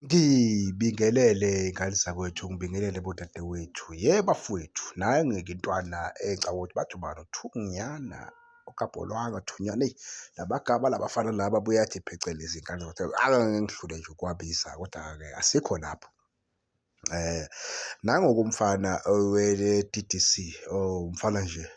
Ngibingelele y'ngane zakwethu, ngibingelele bodadewethu. Yebo bafowethu, nayo ngeke intwana engicabanga ukuthi bathi ubani uThunyana okabholwanga uThunyana. Eyi labagaba labafana laba buyathi phecelezi iy'ngane zakwethu. Angeke ngidlule nje ukuwabiza kodwa-ke asikho lapho. Nangoku umfana owe-D_D_C, umfana nje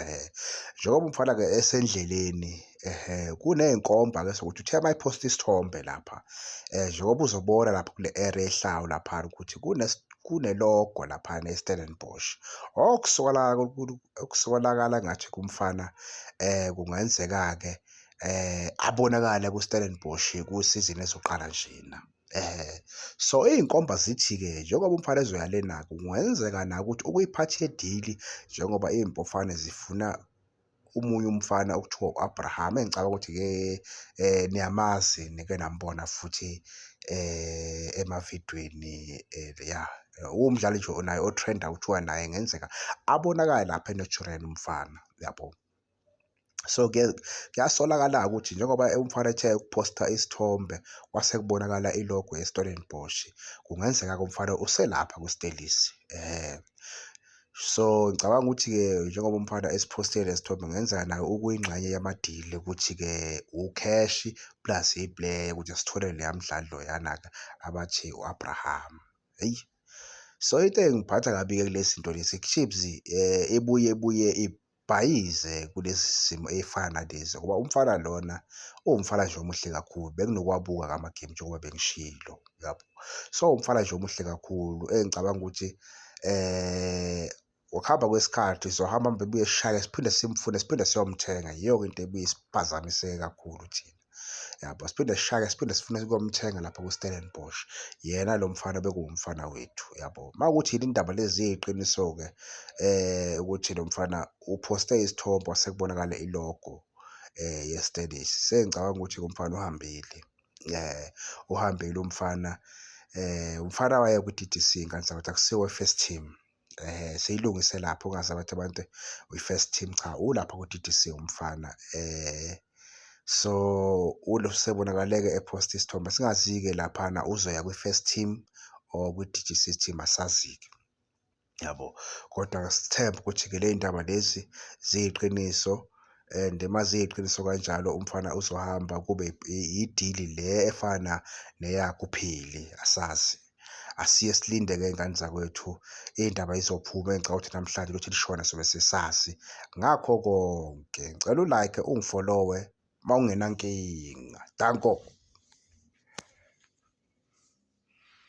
Ehhe, njengoba umfana-ke esendleleni ehhe, kuney'nkomba-ke zokuthi uthe uma ephosta isithombe lapha um njengoba uzobona lapha kule area ehlawu laphana ukuthi kunelogo laphana e-Stellenbosch. Okusolakala ngathi kumfana um kungenzeka-ke um abonakale ku-Stellenbosch kusizini ezoqala njena. Eh, so iy'nkomba zithi-ke njengoba umfana ezoyalena-ke kungenzeka na ukuthi ukuyiphatha edili njengoba iy'mpofane zifuna omunye umfana okuthiwa u-Abraham engicabanga ukuthi-ke eh niyamazi nike nambona futhi eh emavidweni eh ya umdlali nje onaye otrenda kuthiwa naye ngenzeka abonakale lapha eNaturena umfana yabo. so kuyasolakala-ke ukuthi njengoba umfana ethe ukuphosta isithombe kwase kubonakala ilogo yestellenbosch kungenzeka-ke umfana uselapha kwistelisi um so ngicabanga ukuthi-ke njengoba umfana esiphostile lesithombe kungenzeka nayo ukuyingxenye yamadili ukuthi-ke ucash plus iplayer ukuthi sithole leya mdlali loyana-ke abathi u-abraham eyi so into engiphatha kabi-ke kule zinto lezi chips um eh, ebuye ebuye bhayize kulesi simo ey'fana nalezi ngoba umfana lona uwumfana nje omuhle kakhulu benginokwabuka ngama-game njengoba bengishilo yabo. So umfana nje omuhle kakhulu engicabanga ukuthi um ngokuhamba kwesikhathi sizohamba mbe buye sishake siphinde simfune siphinde siyomthenga yiyo-ke into ebuye isiphazamise kakhulu thina. yabo siphinde sishake siphinde sifune ukumthenga lapha ku-Stellenbosch yena lo mfana bekuwumfana wethu yabo uma ukuthi yini indaba lezi yiqiniso-ke eh ukuthi lo mfana uphoste isithombe wasekubonakala ilogo eh ye-Stellis sengicabanga ukuthi umfana uhambile eh uhambile umfana eh umfana waye ku-DDC kanti sakuthi akusiwe first team eh seyilungise lapho ungazi abathi abantu uyi-first team cha ulapha ku-DDC umfana eh so usebonakaleke epost isithombe singazi-ke laphana uzoya kwi-first team or kwi-DGC team asazi-ke yabo kodwa sithemba ukuthi-ke le ndaba lezi ziyiqiniso and uma ziyiqiniso kanjalo umfana uzohamba kube yidili le efana neyakuphili asazi asiye silinde ke ingane zakwethu indaba izophuma engicela ukuthi namhlanje ukuthi lishona sobe sesazi ngakho konke ngicela ulike ungifollowe uma ungenankinga danko